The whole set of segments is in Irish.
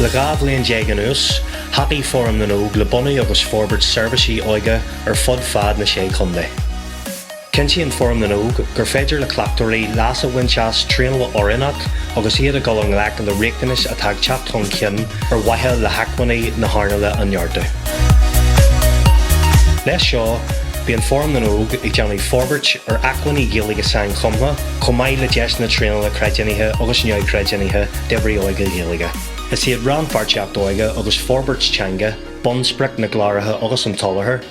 Le dhá bhliain déag anuas, thacaigh Fóram na nÓg le bunú agus forbairt seirbhísí óige ar fud fad na Sé Chontae. Cinntíonn Fóram na nÓg gur féidir le cleachtóirí leas a bhaint as traenáil oiriúnach agus iad ag dul i ngleic le riachtanais atá ag teacht chun cinn ar mhaithe le hacmhainní na hearnáile a neartú. Leis seo, bíonn Fóram na nÓg ag déanamh forbairt ar acmhainní Gaeilge sainchumtha, chomh maith le deiseanna traenála creidiúnaithe agus neamhchreidiúnaithe d'oibrithe óige Gaeilge. Is iad rannpháirtíocht óige agus forbairt teanga bunsprioc na gcláracha agus an tsoláthair.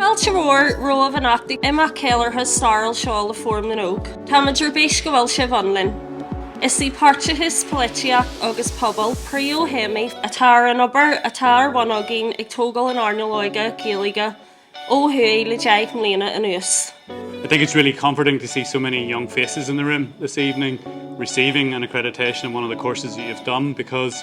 Fáilte mhór romhaibh anocht ag imeacht ceiliúrtha stairiúil seo le Fóram na nÓg. Táimid ar bís go bhfuil sibh ann linn. Is í páirteachas polaitíocht agus pobal príomhthéamaí atá ar an obair atá ar bhun againn ag tógáil an earnáil óige Gaeilge ó thuaidh le deich mbliana anuas. I think it's really comforting to see so many young faces in the room this evening receiving an accreditation in one of the courses that you've done because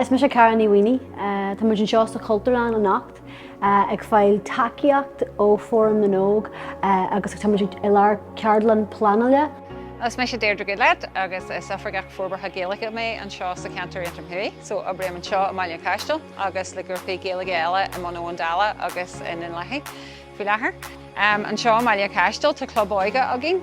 Is mise Cara Ní Mhaonaigh. Tá muid anseo sa Chultúrlann anocht ag fáil tacaíocht ó Fóram na nÓg agus tá muid i lár ceardlann pleanála. Is mise Deirdre Goodlad agus is Oifigeach Forbartha Gaeilge mé anseo sa cheantar Aontroim Thuaidh. So oibrím anseo i mBaile an Chaistil agus le grúpaí Gaeilge eile i mBun Abhann Dalla agus i nDún Lathaí faoi láthair. Anseo i mBaile an Chaistil tá club óige againn.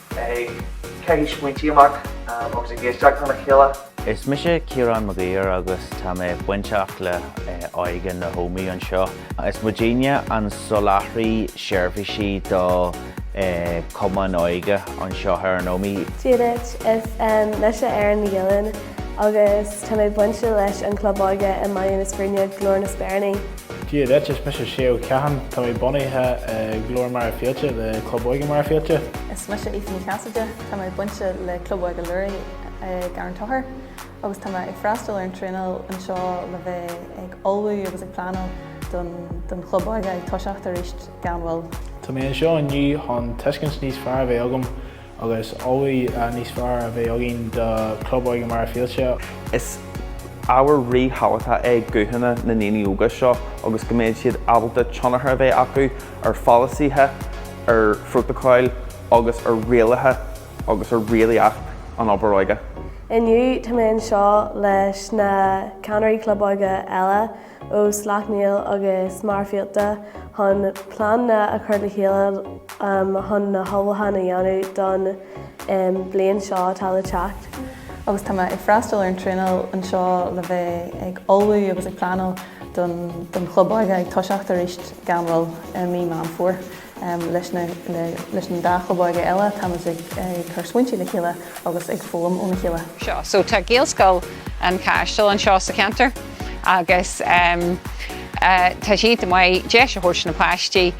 ag caitheamh smaointí amach agus ag éisteacht lena chéile. Is mise Ciarán Mag Uidhir agus tá mé bainteach le Óige na hÓmaí anseo. Is muidinne an soláthraí seirbhísí do Chumann Óige anseo ar an Ómaigh. Dia duit, is mise Erin Magillan agus tá mé bainte leis an Chlub Óige i mBaile na Scríne, Glór na Speiríní. Dia duit, is mise Shea Ó Catháin. Tá mé bunaithe i nGlór Mhachaire Fíolta le Club Óige Mhachaire Fíolta. Is mise Aoife Ní Chasaide. Tá mé bainte le Club Óige Luraigh i gCarn Tóchair agus tá mé ag freastal ar an traenáil anseo le bheith ag ullmhú agus ag pleanáil don don Chlub Óige ag toiseacht aríst gan mhoill. Tá mé anseo inniu chun tuiscint níos fearr a bheith agam Agus ullmhú níos fearr a bheith againn do Club Óige Mhachaire Fíolta. Is ábhar ríthábhachtach é guthanna na ndaoine óga seo agus go mbeidh siad ábalta tionchar a bheith acu ar pholasaithe, ar phrótacail agus ar rialacha agus ar rialaíocht an obair óige. Inniu tá mé anseo leis na Ceannairí Club Óige eile. Ó Slaughtneil agus Machaire Fíolta chun pleananna a chur le chéile chun na hullmhúcháin a dhéanamh don bhliain seo atá le teacht. Agus tá mé ag freastal ar an traenáil anseo le bheith ag ullmhú agus ag pleanáil don chlub óige ag toiseacht arís gan mhoill i mí Meán Fómhair. Leis na dá chlub óige eile, táimid ag cur smaointe le chéile agus ag foghlaim óna chéile. seo. So tá Gaelscoil an Chaistil anseo sa cheantar agus tá sé iontach maith deis a thabhairt do na páistí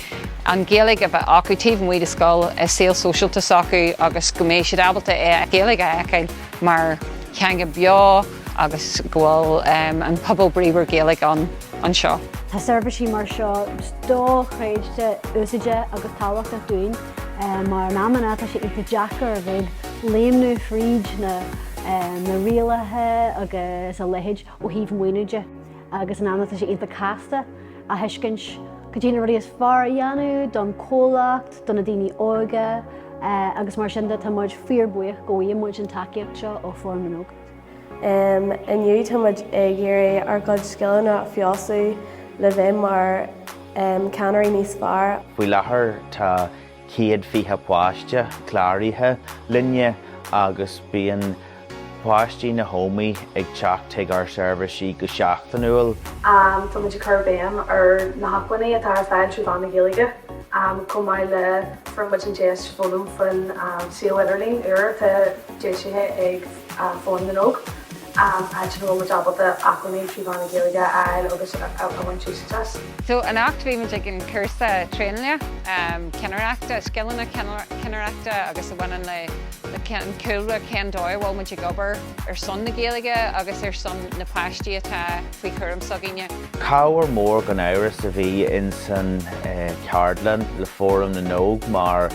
an Ghaeilge a bheith acu taobh amuigh de scoil, i saol sóisialta s'acu agus go mbeidh siad ábalta an Ghaeilge a fheiceáil mar theanga beo. agus go bhfuil an pobal bríomhar Gaeilge ann anseo. Tá seirbhísí mar seo dochreidte úsáideach agus tábhachtach dúinn mar in amanna tá sé iontach deacair a bheith ag léimniú fríd na rialacha agus a leithéid ó thaobh maoiniú de agus in amanna tá sé iontach casta a thuiscint cad iad na rudaí is fearr a dhéanamh don comhlacht, do na daoine óga agus mar sin de tá muid fíor buíoch go bhfaigheann muid an tacaíocht seo ó Fóram na nÓg. Inniu táimid ag iarraidh ár gcuid scileanna a fheabhsú le bheith mar ceannairí níos fearr. Faoi láthair tá céad fiche páiste cláraithe linne agus bíonn páistí na hÓmaí ag teacht chuig ár seirbhísí go seachtainiúil. Táimid ag cur béim ar na hacmhainní atá ar fáil trí mheán na Gaeilge chomh maith le fuair muid an deis foghlaim faoin suíomh idirlín úr atá deisithe ag Fóram na nÓg, áit ina bhfuil muid ábalta acmhainní trí mheán na Gaeilge a fháil agus a bhaint úsáid as. So anocht bhí muid ag an cúrsa traenála, cinnireachta, scileanna cinnireachta agus a bhaineann le an cúlra cén dóigh a bhfuil muid ag obair ar son na Gaeilge agus ar son na páistí atá faoi chúram s'againne. Cabhair mór gan amhras a bhí in san ceardlann le Fóram na nÓg mar,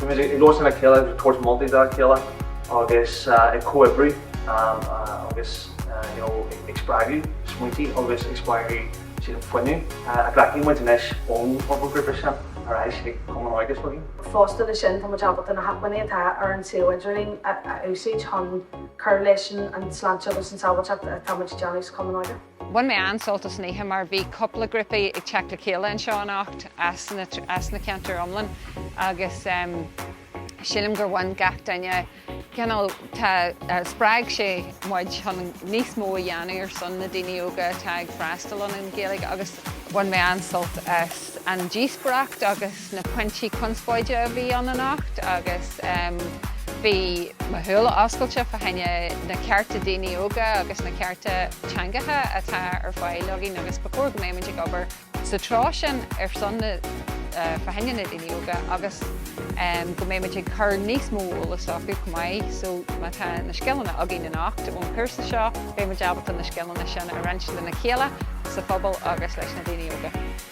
Bímid ag labhairt lena chéile agus ag tabhairt moltaí dá chéile agus ag comhoibriú agus you know ag spreagadh smaointí agus ag spreagadh siad an fuinneamh a ghlacfaidh muid anois ón grúpa sin ar ais ag Cumann Óige s'againne. Fosta leis sin tá muid ábalta na hacmhainní atá ar an suíomh idirlín a úsáid chun cur leis an tsláinte agus an sábháilteacht atá muid ag déanamh sa Chumann Óige. Bhain mé an-sult as an oíche mar bhí cúpla grúpaí ag teacht le chéile anseo anocht as na as na ceantair iomlán agus sílim gur bhain gach duine cineál tá spreag sé muid chun níos mó a dhéanamh ar son na daoine óga atá ag freastal an Ghaeilge agus bhain mé an-sult as an díospóireacht agus na pointí conspóide a bhí ann anocht agus bhí mo shúile oscailte fá choinne na cearta daoine óga agus na cearta teangacha atá ar fáil againn agus ba chóir go mbeimid ag obair sa treo sin ar son na fá choinne na daoine óga agus go mbeimid ag cur níos mó eolas acu chomh maith so tá na scileanna againn anocht ón chúrsa seo beimid ábalta na scileanna sin a roinnt lena chéile sa phobal agus leis na daoine óga.